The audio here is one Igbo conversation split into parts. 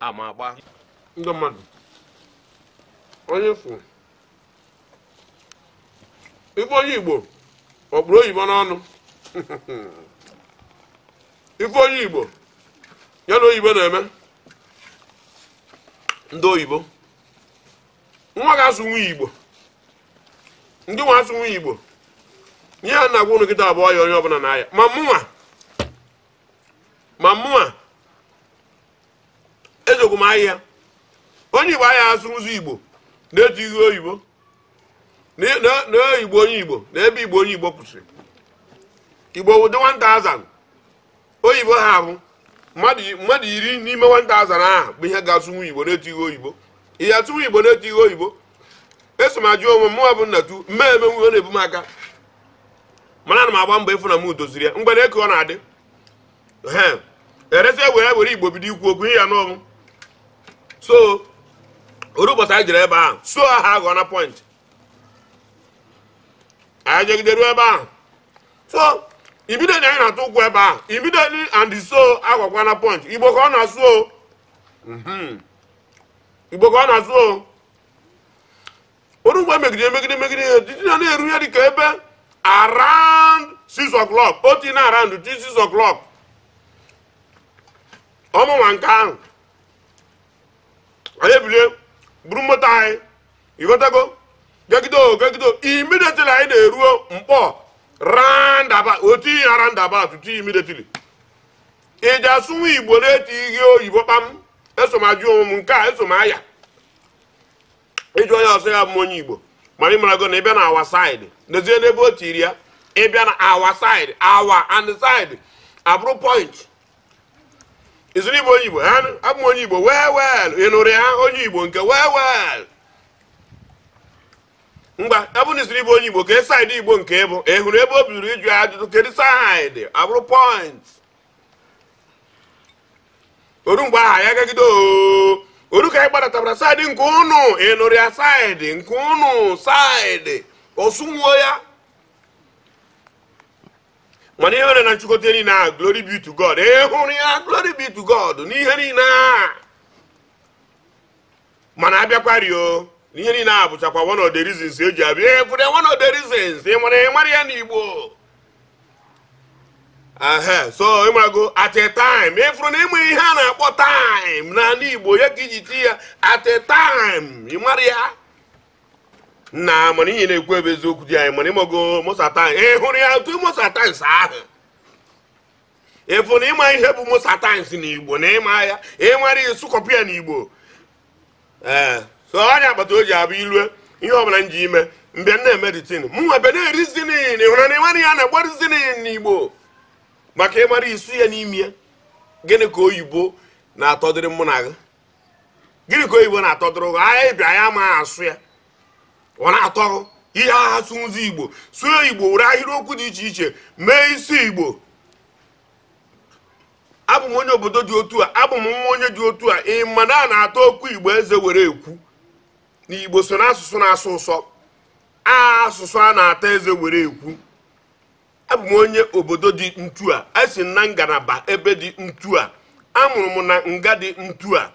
ama agba ndị mmadụ onye fụ ịfụ onye igbo ọ kpụrụ oyibo n'ọnụ ife onye igbo ya na oyibo na-eme ndị oyibo nwa ga-asụnwu igbo ndị nwa asụnwu igbo ihe a na-agwa ụnụ kịta a bụ ọya onye ọbụla na-aya ma mụnwa ma mụnwa esokwu m aya onye igbo aya asụzi igbo na-etighị oyibo na igbo onye igbo na ebe igbo onye igbo kwụsịrị igbo wụdị 1000 oyibo ha ahụ mmadụ iri n'ime 1000 ahụ bụ ihe ga-asụnwu igbo na-etighị oyibo ihe asụnwu igbo na-etighị oyibo eso m ajụ onwe m mụwa bụ nnatu mmee eme nwe ọ na-ebu m aka mana ana m agba mbọ ịfụ na m doziri ya mgbe na-eke ọ na-adị erezi e were were igbo bido ikwu okwu ihe ya n'ọnwụ so o ru ụbọchị anyị jere ebe ahụ so aha aghọ na point anyị jegide ruo ebe ahụ so immediately anyị na-atụ ụkwụ ebe ahụ immediately and so agwakwa na point igbo ka ọ na-asụ o mhm. igbo ka ọ na-asụ o o ru ngwa megide megide megide ihe didi na na-eru ihe dịka ebe around 6 o'clock o tinye around 6 o'clock ọmụnwa nke ahụ anyị ebilie buru moto anyị ịghọtago gagido gagido immediately anyị na-eruo nkpọr roundabout o tie roundabout tutu immediately ị ga-asụnwu igbo na-etighị oyibo kpam eso m ajụ onwe m nke a eso m aya ịjụ onye ọ sị ya bụ onye igbo mana ịmarago na ịbịa na our side nezie n'ebe o tiri ya ịbịa na our side our and side abụrụ point izuru igbo onye igbo abụ m onye igbo well well ịnụrụ ya onye igbo nke well well ngwa abụ na izuru igbo onye igbo kee side igbo nke ịbụ ị hụrụ ebe o bidoro ịjụ ya ajụjụ kedu side abụrụ point o ru mgbe aha ya gagide oo o ru ka anyị gbadatabara side nke ụnụ ịnụrụ ya side nke ụnụ side ọ sụnwuo ya mana ihe mere na nchịkọta niile a glory be to god ịhụrụ ya glory be to god n'ihe niile a mana abịakwari o ihe niile a bụchakwa one of the reasons eji abịa ekwude one of the reasons ị mara ịmara ya n'igbo ehe so ịmarago at a time ịfụrụ na ịma ihe a na-akpọ time n'ala igbo ya ka iji ti ya at a time ịmara ya na mana ihe na-ekwu ebe eziokwu di anyị mana ịmago most times ị hụrụ ya otu most times ahụ ịfụ na ịma ihe bụ most times na igbo na ịma ya ịmara ịsụkọpụ ya na igbo ee so onye agbata o ji abụ ilue ihe ọbụla m ji ime mbịa na-emeditin mụ nwa be na-ereasoning hụrụ na ịmara ya na-agba reasoning na igbo maka ịmara ịsụ ya n'ime ya gịnị ka oyibo na-atọdịrị mụ na gị gịnị ka oyibo na-atọdụrụ anyị bịa ya ma asụa ya ọ na-atọ ihe ha sụzi igbo sụọ igbo were ahịrịokwu dị iche iche mee isi igbo abụ m onye obodo dị otu a abụ m nwa onye dị otu a ị ma na a na-ata okwu igbo eze were ekwu na igbo so na asụsụ na-asọ ụsọ asụsụ a na-ata eze were ekwu abụ m onye obodo dị ntu a esi m na ngalaba ebe dị ntu a amụrụ m na nga dị ntu a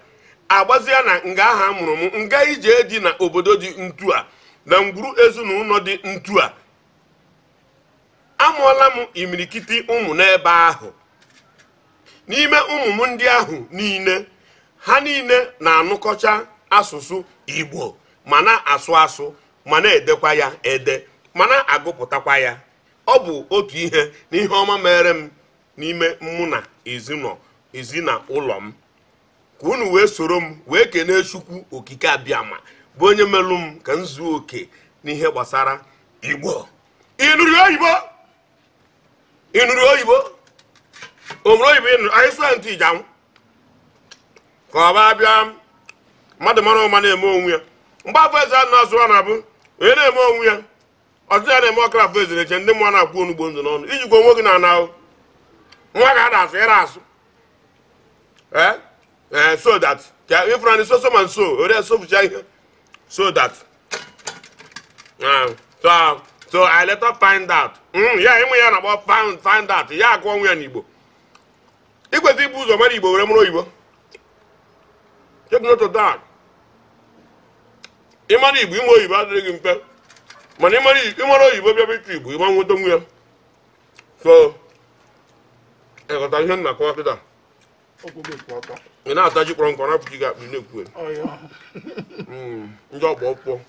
agbazia na nga ahụ amụrụ m nga ije dị na obodo dị ntu a na ngwuru ezinụlọ dị ntu a amụọla m imirikiti ụmụ n'ebe ahụ n'ime ụmụ m ndị ahụ niile ha niile na-anụkọcha asụsụ igbo ma na-asụ asụ ma na-edekwa ya ede ma na-agụpụtakwa ya ọ bụ otu ihe n'ihe ọma meere m n'ime mụ na ezi na ụlọ m ka unu wee soro m wee kenee chukwu okike abịama bụ onye melụ m ka m zuo oke n'ihe gbasara igbo ịnụrụ oyibo ịnụrụ oyibo obere oyibo ịnụrụ anyị sụọ ntụ iji anwụ ka ọ baa bịa mmadụ mara ụma na-eme onwe ya mgbe afọ eze a na-azụ a na-abụ onye na-eme onwe ya ọtụtụ ya na-eme ọkara afọ ezere eche ndị mụọ na-akwụ onugbo ndụ n'ọnụ ijikwa onwe gị na ana ahụ nwa ga ada asụ ịra asụ ee eh? eh, so that ka ịfụrụ anyị soso ma nso ore sofucha ihe so that ah, so ah, so i later find out hmm, ya ịma ihe a na-akpọ find out ya akọwa ya n'igbo ikwesị ibu ụzọ mara igbo were mụrụ oyibo ịmara igbo ịmụ oyibo adịrị gị mfe mana ịmara oyibo bịa bịta igbo ịma nwetanwu ya so ịghọta ihe m na-akọwa kịta ị na-ata ji kpọrọ nkụ na-akpọchi gị akpịrị na-ekwu ndị ọgba ọkpụkpọ